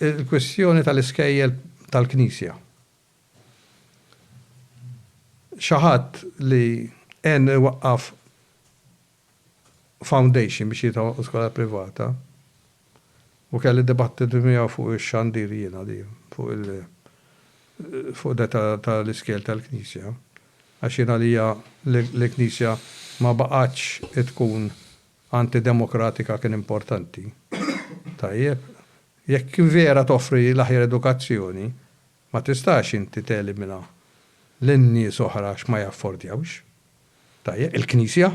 Il-kwistjoni tal-iskejjel tal-Knisja. Xi ħadd li għen iwaqqaf foundation biex jitgħu skola privata u kelli dibattitu miegħu fuq ix-xandir jiena li fuq il fuq da tal-iskejjel tal-Knisja għax jien għalija l-Knisja ma baqgħetx tkun antidemokratika kien importanti. Tajjeb, jekk vera toffri l-aħjar edukazzjoni, ma tistax inti telimina lil nies oħra għax ma jaffordjawx. Tajjeb, il-Knisja,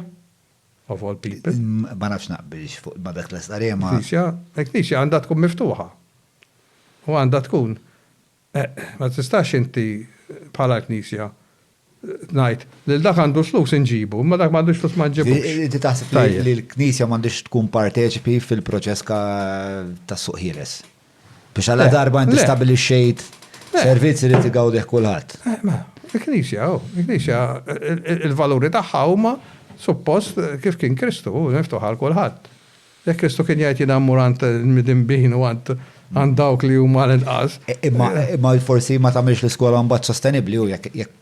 of all people. Ma nafx naqbilx fuq ma dak l-istqarrija ma. Il-Knisja, il-Knisja għandha tkun miftuħa u għandha tkun Ma tistax inti bħala l-Knisja ngħid, lil dak għandu flus inġibu, imma dak m'għandux flus ma nġibux. Inti taħseb li l-Knisja m'għandhiex tkun parteċipi fil-proċess tas-suq ħieles? Biex għal darba inti stabbilixxejt servizz irid igawdih kulħadd. Il-Knisja, il-Knisja, il-valuri tagħha huma suppost kif kien Kristu, miftuħa għal kulħadd. Jekk Kristu kien jgħid jiena mmur għand il-midinbin u għand dawk li huma l-inqas. Imma forsi ma tagħmilx l-iskola mbagħad sostenibbli hu jekk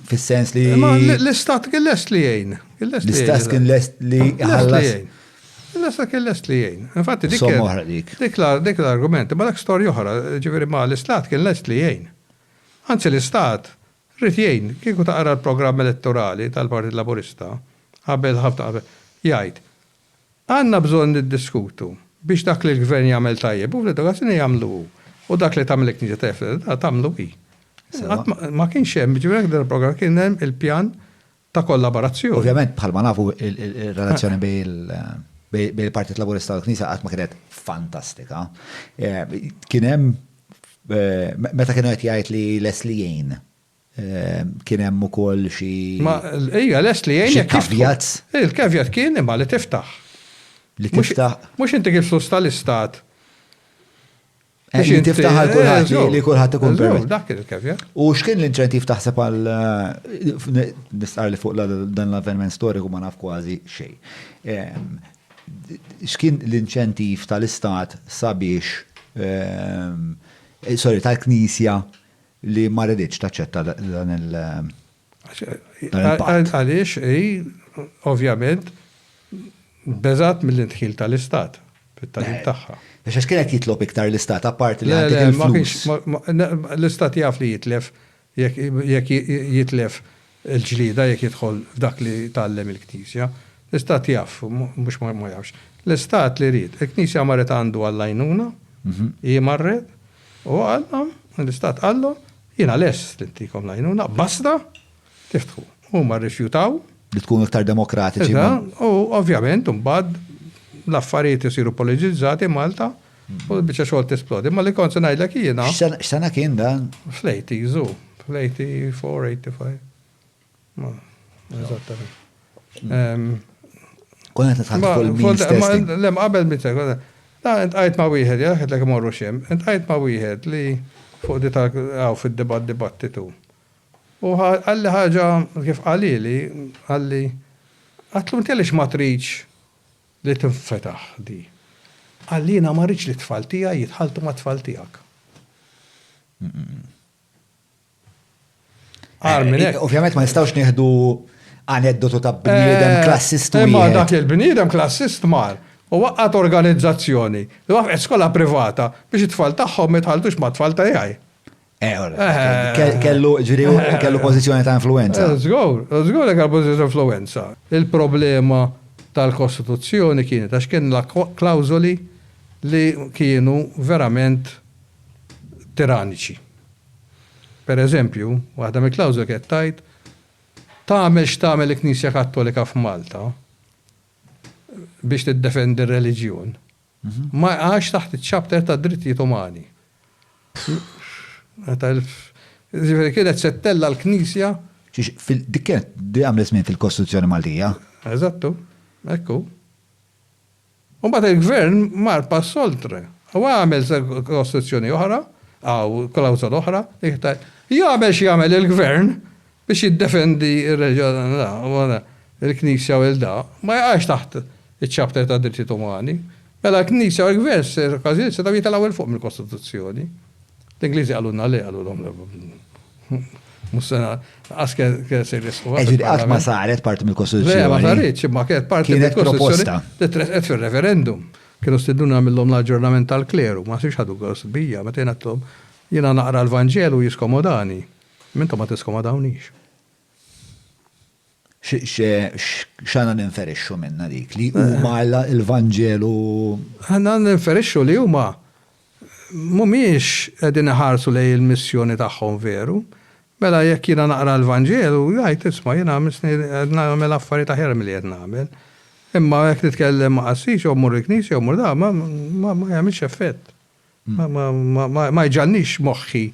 fis-sens li. Imma l-Istat kien lest li jgħin. L-Istat kien lest li jħallas. L-Istat kien lest li jgħin. Infatti dik. Somma oħra dik. Dik l-argument, imma dak storja oħra, ġifieri ma l-Istat kien lest li jgħin. Anzi l-Istat rrid jgħin, kieku taqra l-programm elettorali tal-Partit Laburista qabel ħafna qabel jgħid Għandna bżonn niddiskutu biex dak li l-Gvern jagħmel tajjeb hu fl-edukazzjoni jagħmlu hu u dak li tagħmel il-Knisja tajjeb fl-identità tagħmlu hi. Qatt ma, ma kienx hemm, jiġifieri anke dan il-programm kien hemm il-pjan ta' kollaborazzjoni. Ovvjament bħalma nafu r-relazzjoni bejn il-Partit Laburista u l-Knisja qatt ma kienet fantastika. Kien hemm meta kienu qed jgħid li lest li jgħin Kien hemm ukoll xi. Ma hija lest li jgħinek kif. Xi kavjat. Il-kavjat kien imma li tiftaħ. Li tiftaħ. Mhux intik il-flus tal-istat. Biex inti. Tiftaħ għal kulħadd li kulħadd ikun permess. Dak kien il-kavjat. U x'kien l-inċentiv taħseb għal nistqar li fuq dan l-avveniment storiku ma naf kważi xejn. X'kien l-inċentiv tal-istat sabiex sorry tal-knisja Li ma riditx taċċetta dan il-patt. Għaliex hi ovvjament beżgħet mill-indħil tal-Istat fit-tagħlim tagħha. Għax hekk kienet jitlob iktar l-Istat apparti li jagħtik il-flus. Le, le, ma kienx, l-Istat jaf li jitlef jekk jitlef il-ġlieda jekk jidħol f'dak li tgħallem il-Knisja. L-Istat jaf, mhux ma jafx. L-Istat li ried. Il-Knisja marret għandu għall-għajnuna, hi marret, u qalhom, l-Istat qalhom, jiena lest li ntikom l-għajnuna, basta tiftħu. Huma rrifjutaw. Li tkunu iktar demokratiċi. U ovvjament imbagħad l-affarijiet isiru politizzati Malta U l-biċċa xogħol tisplodi. Imma li kont se ngħidlek jiena. X'sena kien dan? Fl-80s u. Fl-84, 85. Ma, eżattament. Konet nitħantu fuq il-means testing. Lem, qabel minn sekk, la, intqajt ma' wieħed, ja, xed l-ek morru xem, intqajt ma' wieħed li fuq di tal għaw fil-dibat dibattitu. U għalli ħaġa kif għalili, għalli, għatlu inti għalix matriċ li tinfetaħ di. Qal jiena ma rridx li t-tfal tiegħi jitħalltu mat-tfal tiegħek. Agħar minn hekk. Ovvjament ma nistgħux nieħdu aneddotu ta' bniedem eh, klassist. Imma dak il-bniedem klassist mar u waqqat organizzazzjoni li waqqet skola privata biex it-tfal tagħhom ma jitħaltux ma' tfal ta' jaj. Eh, eh, kellu ġiri, eh, kellu pozizjoni ta' influenza. Zgur, zgur li kellu pozizjoni ta' influenza. Il-problema tal-Kostituzzjoni kienet għax kien la klawzoli li kienu verament tiraniċi. Per eżempju, waħda mill klawzoli kienet tajt tagħmel x'tagħmel il-Knisja Kattolika f'Malta biex tiddefendi r-reliġjun. ma jaqax taħt iċ-Chapter tad-Drittijiet Umani. Jiġifieri kienet se ttella' l-Knisja. Dik kienet diqa' mill-żmien fil-Kostituzzjoni Maltija. Eżattu, hekk hu. U mbagħad il-Gvern mar pass oltre u għamel Kostituzzjoni oħra, klawżola oħra, li kienet tgħid, jagħmel x'jagħmel il-Gvern, biex jiddefendi r-reġgħa ta' wara l-Knisja u l-da, ma jaqax taħt iċ-Charter tad-Drittijiet Umani, mela l-Knisja u l-Gvern f'ċerti okkażjonijiet setgħu jitilgħu 'il fuq mill-Kostituzzjoni. L-Ingliżi qalulna le, qalulhom le, mhux se lanqas kienet se jressquha. Jiġifieri qatt ma saret parti mill-Kostituzzjoni. Le, ma saritx, imma kienet parti mill-Kostituzzjoni li tressqet fir-referendum. Kienu stiednuna nagħmillhom l-aġġornament tal-kleru, ma nasibx ħadu gost bija meta jien għedthom jiena naqra l-Vanġelu jiskomodani. M'intom ma tiskomodawniex. X'għandna ninferixxu minnha dik? Li huma l-Vanġelu? Għandna ninferixxu li huma mhumiex qegħdin iħarsu lejn il-missjoni tagħhom veru. Mela jekk jiena naqra l-Vanġelu jgħid, isma' jiena għamiltni qed nagħmel affarijiet aħjar milli qed nagħmel. Imma jekk nitkellem ma' qassis jew mmur il-knisja jew mmur da, ma jagħmilx effett. Ma jġagħalnix moħħi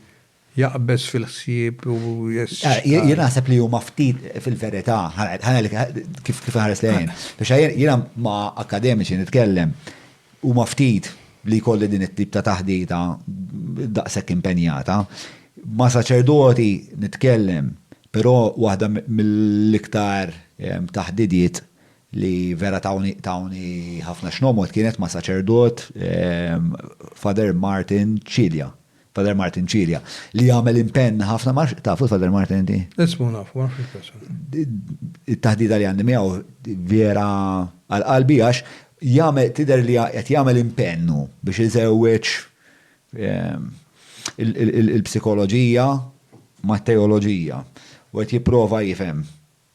Jaqbeż fil-ħsieb u jgħeżżġ. Jien naħseb li huma ftit fil-verità, ħa ngħidlek kif inħares lejha jien. Għax jiena ma' akkademiċi nitkellem, huma ftit li jkolli din it-tip ta' taħdita daqshekk impenjata. Ma' saċerdoti nitkellem, però waħda mill-iktar taħdidiet li vera tawni ħafna x'nogħmod kienet ma' saċerdot, Father Martin Cilia. Father Martin Cilia, li għamel impenn ħafna ma tafu Father Martin inti? Ismu nafu, ma nafx Il-taħdida li għandi miegħu vera għal qalbi għax jagħmel tidher li qed jagħmel impennu biex iżewweġ ehm, il-psikoloġija mat-teoloġija u qed jipprova jifhem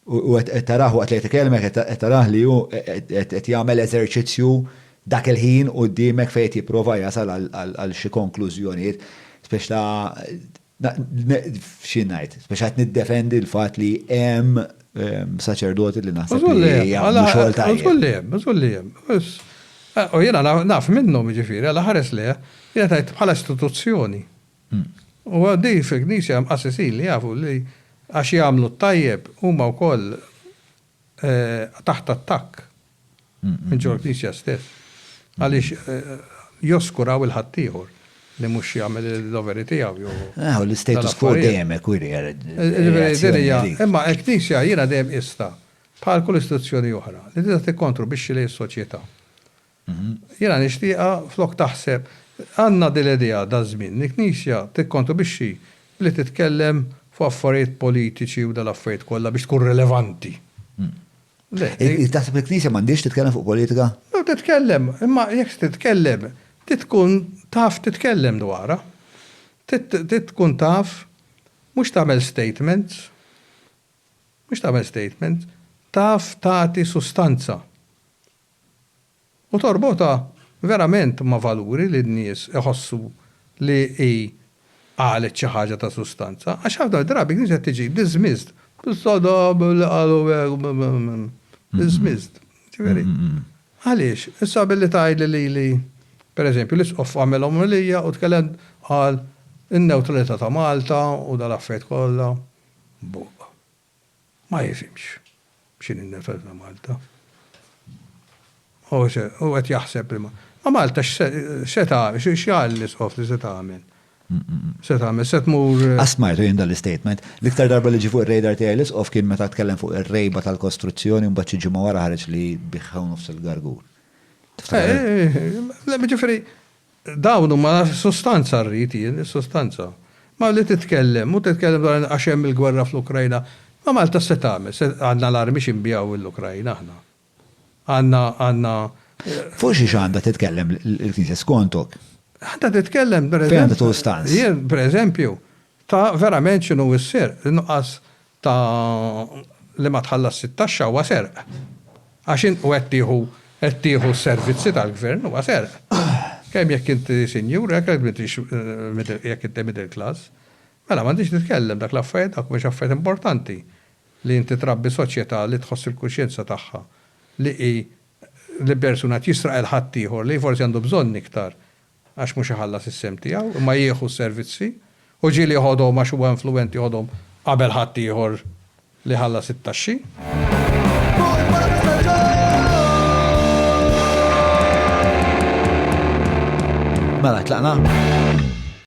U qed tarah waqt li qed ikellmek, qed tarah li hu qed jagħmel eżerċizzju dak il-ħin quddiemek fejn qed jipprova jasal għal xi konklużjonijiet. Spiex ta' xi ngħid, spiex qed niddefendi l-fatt li hemm saċerdoti li naħseb li jagħmlu xogħol tajjeb. Żgur li hemm, żgur li hemm, żgur li hemm. U jiena naf minnhom, jiġifieri, alla ħares lejha, jiena tgħid bħala istituzzjoni. Huwa di fil-Knisja hemm qassisin li jafu li għax jagħmlu t-tajjeb huma wkoll taħt attakk minn ġol-Knisja stess għaliex joskuraw il-ħaddieħor li mhux jagħmel il-doveri tiegħu jew dal-affarijiet. L-istatus quo dejjem hekk u jrid. Imma l-Knisja jiena dejjem qistha bħal kull istituzzjoni oħra li tista' tikkontribwixxi lejn is-soċjetà. Jiena nixtieqha flok taħseb. Għandna din l-idea daż-żmien li l-Knisja tikkontribwixxi billi titkellem fuq affarijiet politiċi u dal-affarijiet kollha biex tkun rilevanti. Le. Int taħseb li l-Knisja m'għandhiex titkellem fuq politika? Le, titkellem, imma jekk se titkellem, trid tkun taf titkellem dwarha. Trid tkun taf mhux tagħmel statements, mhux tagħmel statements, taf tagħti sustanza. U torbotha verament ma' valuri li n-nies iħossu li hi qalet xi ħaġa ta' sustanza. Għax ħafna drabi l-Knisja tiġi dismissed. Issa da li qalu hekk b. Dismissed. Jiġifieri, għaliex? Issa billi tgħidli lili, per eżempju, l-Isqof għamel omilija u tkellem għal in-newtralità ta' Malta u dal-affarijiet kollha. Buh. Ma jifhimx x'inhi n-nefqa ta' Malta. Hu qed jaħseb li ma Malta x'se tagħmel, x'qal l-Isqof li se tagħmel? Se tagħmel, se tmur. Qatt smajtu jien dan l-istatement. L-iktar darba li ġie fuq ir-radar tiegħi l-Isqof kien meta tkellem fuq ir-rejba tal-kostruzzjoni u mbagħad xi ġimgħa wara ħareġ li biħħew nofs il-gargur. Tiftakar? Jiġifieri, Dawn huma sustanza rrid jien, is-sustanza. Ma li titkellem, u titkellem dwar għax hemm il-gwerra fl-Ukrajna, ma Malta x'se tagħmel? Se għandna l-armi xi nbigħu lill-Ukrajna aħna? Għandna, għandna. Fuq xiex għandha titkellem il-Knisja skontok? Għandha titkellem pereżempju. Fejn għandha tieħu stanz? Jien, pereżempju, ta' verament x'inhu s-sirq, in-nuqqas ta' li ma tħallasx it-taxxa huwa serq. Għax int u qed tieħu qed tieħu s-servizzi tal-gvern huwa serq. Kemm jekk inti sinjur u jekk m'intix middle jekk inti middle class. Mela m'għandix titkellem dak l-affarijiet dawk mhumiex affarijiet importanti li inti trabbi soċjetà li tħoss il-kuxjenza tagħha li hi li persuna qed jisraq 'il ħaddieħor li hi forsi għandu bżonn iktar għax mhux iħallas is-sehem tiegħu, imma jieħu s-servizzi, u ġieli jħodhom għax huwa influwenti jħodhom qabel ħaddieħor li jħallas it-taxxi. Mela, tlaqna?